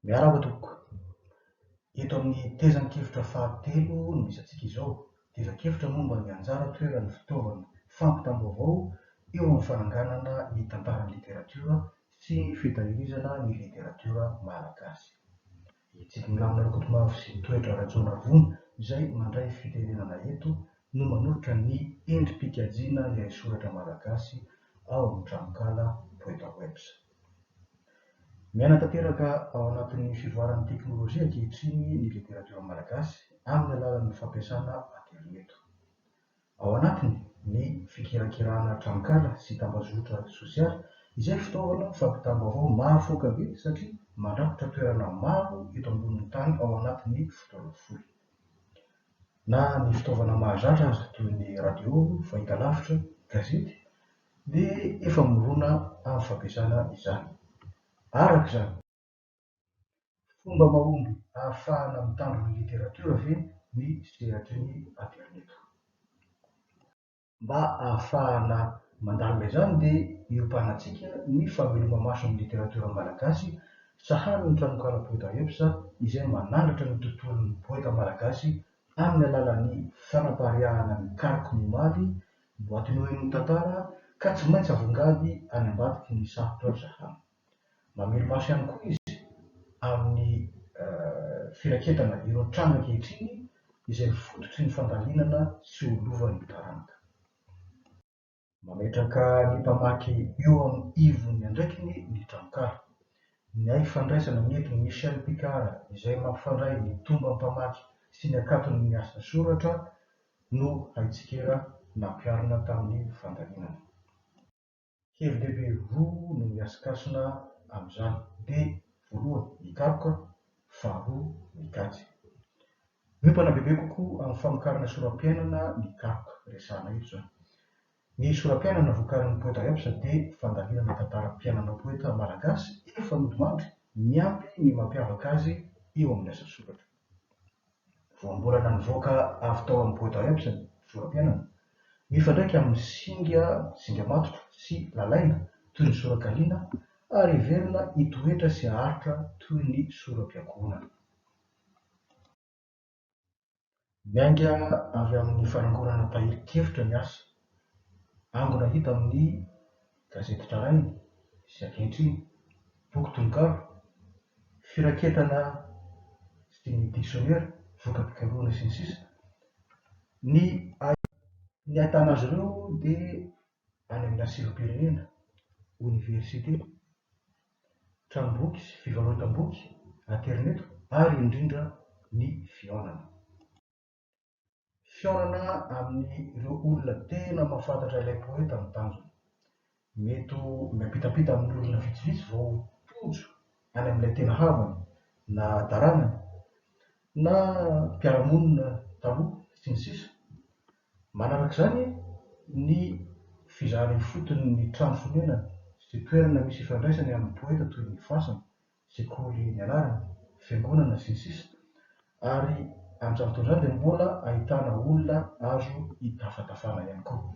Miarahaba tompoko. Eto amin'ny tezan-kevitra fahatelo no misy antsika izao. Tezan-kevitra momba ny anjara toeran'ny fitaovana fampitam-baovao eo amin'ny fananganana ny tantaran'ny literatiora sy ny fitahirizana ny literatiora malagasy. I Tsikinlamina Rakotomavo sy i Toetra Rajaonarivony izay mandray fiterenana eto no manolotra ny endri-pikajiana ny haisoratra malagasy ao amin'ny tranonkala Poetawebs. Miaina tanteraka ao anatin'ny fivoaran'ny teknolojia ankehitriny ny literatiora malagasy amin'ny alalan'ny fampiasana aterineto. Ao anatiny ny fikirakirana tranonkala sy tambazotra sosialy izay fitaovana fampitam-baovao mahafaoka be satria mandrakotra toerana maro eto ambonin'ny tany ao anatin'ny fotoana fohy. Na ny fitaovana mahazatra aza toy ny radio, fahitalavitra, gazety, Ny efa mirona amin'ny fampiasana izany. Araka izany, fomba mahomby ahafahana mitandro ny literatiora ve ny sehatry ny aterineto? Mba ahafahana mandalina izany dia iompanantsika ny fameloma-maso ny literatiora malagasy sahanin'ny tranokala Poeta Eps izay manandratra ny tontolon'ny poeta malagasy amin'ny alalan'ny fanapariahana ny kariky ny omaly Boaty noin ny tantara ka tsy maintsy avongady any ambadiky ny sarotra ry zahamy. Mamely maso ihany koa izy amin'ny firaketana ireo trano ankehitriny izay fototry ny fandalinana sy ho lovan'ny taranaka. Mametraka ny mpamaky eo amin'ny ivon'ny andraikiny ny tranonkala. Niaiky fandraisana ny eto Michel Picard izay mampifandray ny tombam-pamaky sy ny akaton'ny asa soratra no haitsikera nampiharina tamin'ny fandalinana. Hevi-dehibe roa no mihasikasina amin'izany, dia voalohany mikaroka, faharoa mikajy. Miompana bebe kokoa amin'ny famokarana soram-piainana ny karoka resahana eto izao. Ny sora-piainana vokarin'ny poeta Epsa dia fandalinana tantaram-piainana poeta malagasy efa nodimandry miampy ny mampiavaka azy eo amin'ny asa soratra. Voambolana nivoaka avy tao amin'ny poeta Epsa ny sora-piainana, mifandraika amin'ny singa singa matotra sy lalaina toy ny sora-kaliana ary heverina hitoetra sy haharitra toy ny sora-piankohonana. Miainga avy amin'ny fanangonana tahirin-kevitra ny asa. Angona hita amin'ny gazety tranainy sy ankehitriny, boky tononkalo, firaketana sy dininin'ny diksionera, voka-pikarohana, sy ny sisa Ny ahitan'azy ireo dia any amin'ny lasilom-pirenena, oniversite, tranomboky sy fivarotam-boky, aterineto ary indrindra ny fihaonana. Fihaonana amin'ireo olona tena mahafantatra ilay poeta no tanjona. Mety ho miampitampita amin'ny olona vitsivitsy vao tojo any amin'ilay tena havany na taranany. na mpiara-monina taloha, sy ny sisa Manaraka izany, ny fizarana ifotony ny trano fonenany sy toerana misy ifandraisany amin'ny poeta toy ny fasana, sekoly nianarana, fiangonana, sy ny sisa Ary amin'izany fotoana izany dia mbola ahitana olona azo itafatafana ihany koa.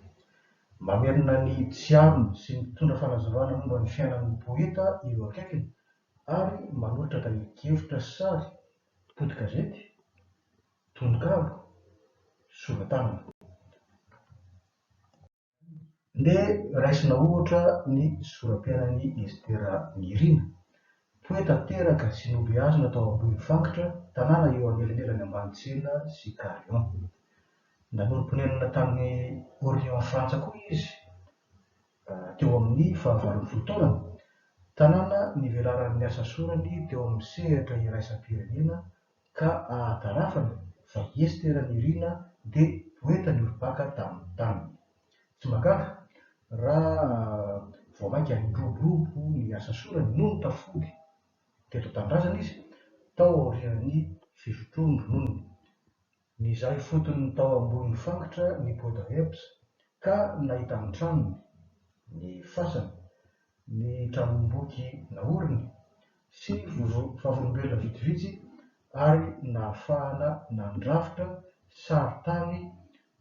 Mamerina ny tsiarony sy mitondra fanazavana momba ny fiainan'ny poeta ireo akaikiny ary manotraka ny kevitra sy sary, poti-gazety, tononkalo, sora-tanana. Ndeha raisina ohatra ny soram-piainan'i Estera Nirina, poeta teraka sy nobeazina tao Ambohimifangitra, tanàna eo anelanelan'i Ambanitsiana sy Carion. Nanorim-ponenana tany Orléans Frantsa koa izy. teo amin'ny fahavalon'ny fotoana. Tanàna nivelaran'ny asa sorany teo amin'ny sehatra iraisam-pirenena ka ahatarafany fa i Estera Nirina dia poeta niorim-paka tamin'ny taniny. Tsy mahagaga raha vao mainka niroborobo ny asa sorany nony tafody teto an-tanindrazana izy tao aorian'ny fisotroany rononony. Nizaha ifotony tao ambony fangitra ny Poudreps ka nahita ny tranony, ny fasany, ny tranomboky naoriny sy vavolombelona vitsivitsy ary nahafahana nandrafitra sarin-tany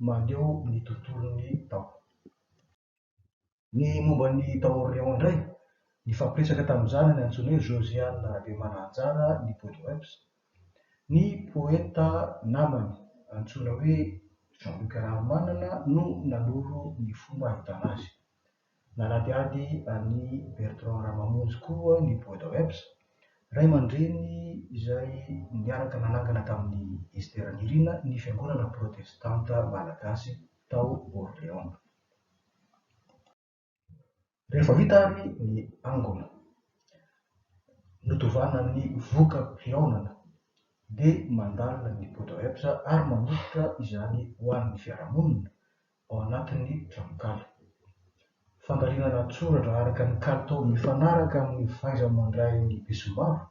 maneho ny tontolony tao. Ny momba an'i Taorion indray, nifampiresaka tamin'ny zanany antsoiny hoe Josiane Rabeomana Anjara ny Bodoeps, ny poeta namany antsoina hoe Jean Luc Raharimanana no nanoro ny fomba ahitana azy. Nanadihady an'i Bertrand Ramamonjy koa ny Bodoeps, ray aman-dreny izay niaraka nanangana tamin'i Esther Nirina ny Fiangonana Protestanta Malagasy tao Orléans. Rehefa vita avy ny angona, nodovana ny voka-pihaonana, dia mandalina ny poudre herbes ary manolotra izany ho an'ny fiarahamonina ao anatin'ny tranonkala. Fandalinana an-tsoratra araka ny kalitao mifanaraka amin'ny fahaiza-mandrain'ny besombavy,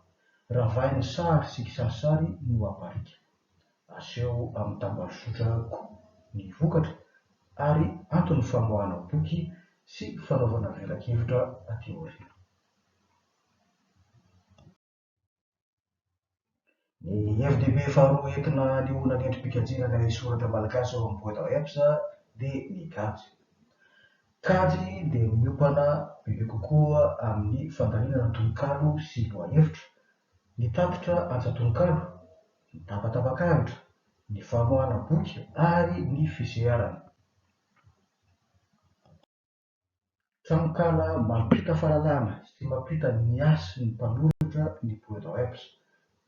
ravahin'ny sary sy kisarisary no aparika. Aseho amin'ny tambajotra koa ny vokatra ary anton'ny famoahana boky sy fanaovana velakevitra aty aoriana. Ny hevi-dehibe faharoa entina hanehoana ny endri-pikajiana ny haisoratra malagasy ao amin'ny boîte à herbes dia ny kajy. Kajy dia miompana bebe kokoa amin'ny fandalinana tononkalo sy lohahevitra, ny tatitra antsan-tononkalo, ny tapatapak'ahitra, ny famoahana boky ary ny fiseharana. Tranonkala mampita fahalalana sy mampita ny hasin'ny mpanoratra ny Poetawebs,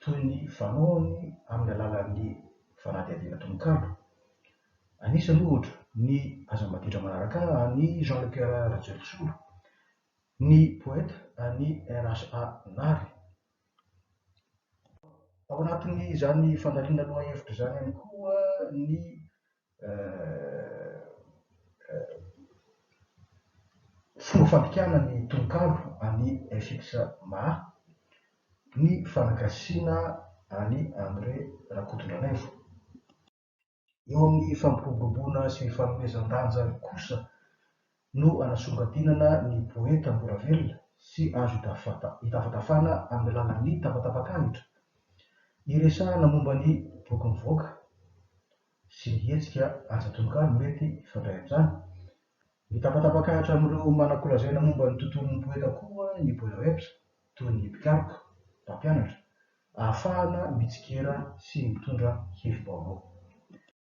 toy ny fanaony amin'ny alalan'ny fanadihadiana tononkalo. Anisany, ohatra, ny Aza maditra manaraka ahy an'i Jean Le Coeur Rajoelisolo, ny Poeta an'i RHA Nary. Ao anatin'izany fandaniana lohahevitra izany ihany koa ny Fomba fandikana ny tononkalo an'i FX Ma ny fanagasiana an'i André Rakotondranaivo. Eo amin'ny fampiroboroboana sy fanomezan-danja kosa no anasongadinana ny poeta mbola velona sy azo itafantafana amin'ny alalan'ny tapatapak'angitra, iresahana momba ny boky mivoaka sy ny hetsika asa tononkalo mety hifandray amin'izany. Mitapatapak'ahitra amin'ireo manan-kolazaina momba ny tontolon'ny poeta koa ny Boilerapes, toy ny mpikaroka, mpampianatra, ahafahana mitsikera sy mitondra hevi-baovao.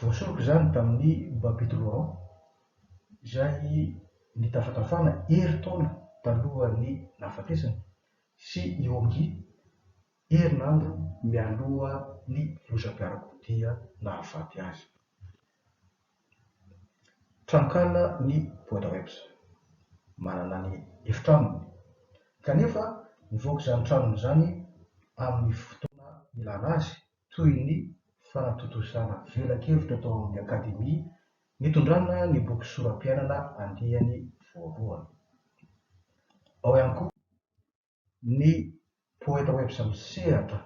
Voasoroka izany tamin'ny Babyloha izay nitafantafana herintaona talohan'ny nahafatesany, sy i Hongi, herinandro mialoha ny lozam-piarakodia nahafaty azy. Tranonkala ny Boadawebs, manana ny efitranony, kanefa nivoaka izany tranony izany amin'ny fotoana nilana azy toy ny fanatontosana velakevitra tao amin'ny Akademia nitondrana ny boky Sorapiainana andiany voalohany. Ao ihany koa ny Poetawebs misehatra,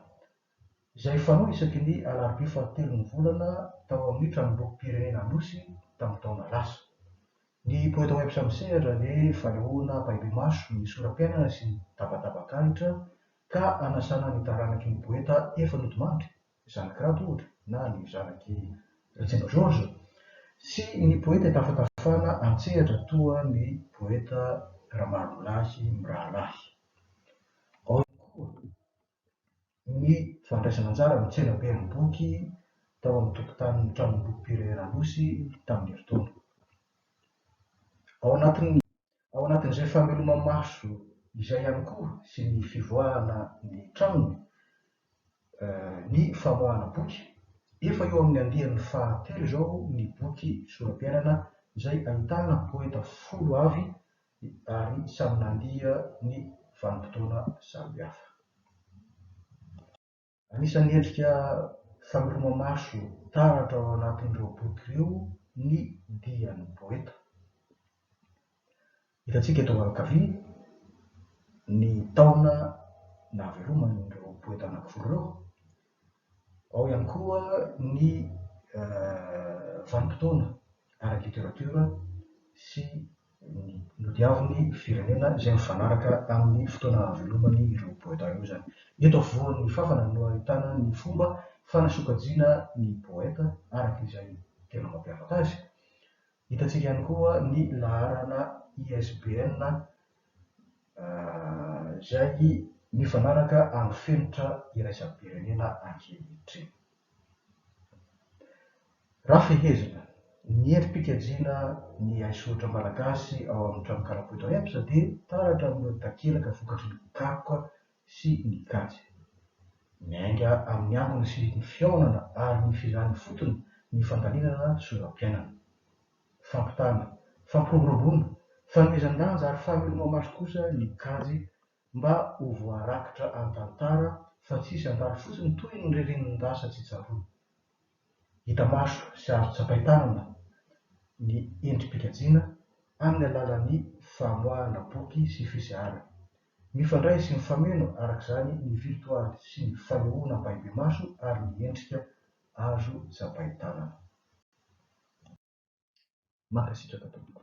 izay fanao isaky ny alarobia fahatelon'ny volana tao amin'ny Tranombokim-pirenena Anosy tamin'ny taona lasa. Ny Poetawebs misehatra dia fanehoana ampahibemaso ny sorapiainana sy ny tabatabak'ahitra Ka anasana ny taranaky ny poeta efa nodimandry, zanaky Rado ohatra, na ny zanaky Ratsimba Georges, sy ny poeta itafatafana an-tsehatra toa ny poeta Ramalolahy mirahalahy. Ao ihany koa ny fandraisana anjara amin'ny tsenaben'ny boky tao amin'ny tokotanin'ny Tranombokim-pirenena Anosy tamin'ny herintaona. Ao anatin'ny. Ao anatin'izay fameloma-maso izay ihany koa sy ny fivoahana ny tranony ny famoahana boky. Efa eo amin'ny andiany fahatelo izao ny boky Sorapiainana izay ahitana poeta folo avy ary samy nandia ny vanim-potoana samihafa. Anisan'ny endrika famiromamaso taratra ao anatin'ireo boky ireo ny dian'ny poeta. Hitantsika eto ankavia ny taona naveloman'ireo poeta anankiroa ireo. Ao ihany koa ny vanim-potoana ara-literatiora sy nodiavin'ny firenena izay mifanaraka amin'ny fotoana hahavelomany ireo poeta ireo izany. Eto afovoan'ny fàfana no ahitana ny fomba fanasokajiana ny poeta araka izay tena mampiavaka azy. Hitantsika ihany koa ny laharana ISBN izay mifanaraka amin'ny fenitra iraisam-pirenena ankehitriny. Raha fehezina, ny endri-pikajiana ny haisoratra malagasy ao amin'ny trano kalapo eto Ems dia taratra amin'ireo takelaka vokatry ny karoka sy ny kajy. Miainga amin'ny angony sy ny fihaonana ary ny fizarana ifotony ny fandalinana sorapiainana. Fampitana, fampiroboroboana, fanomezan-danja ary fameloman'ny maso kosa ny kajy mba ho voarakitra an-tantara fa tsy hisy handalo fotsiny toy ny ririnindahy sa tsy tsaroana. Hita maso sy azo tsapain-tanana ny endri-pikajiana amin'ny alalan'ny famoahana boky sy fiseharana. Mifandray sy mifameno araka izany ny virtoaly sy ny fanehoana ampahibemaso ary ny endrika azo tsapain-tanana. Mankasitraka tompoko.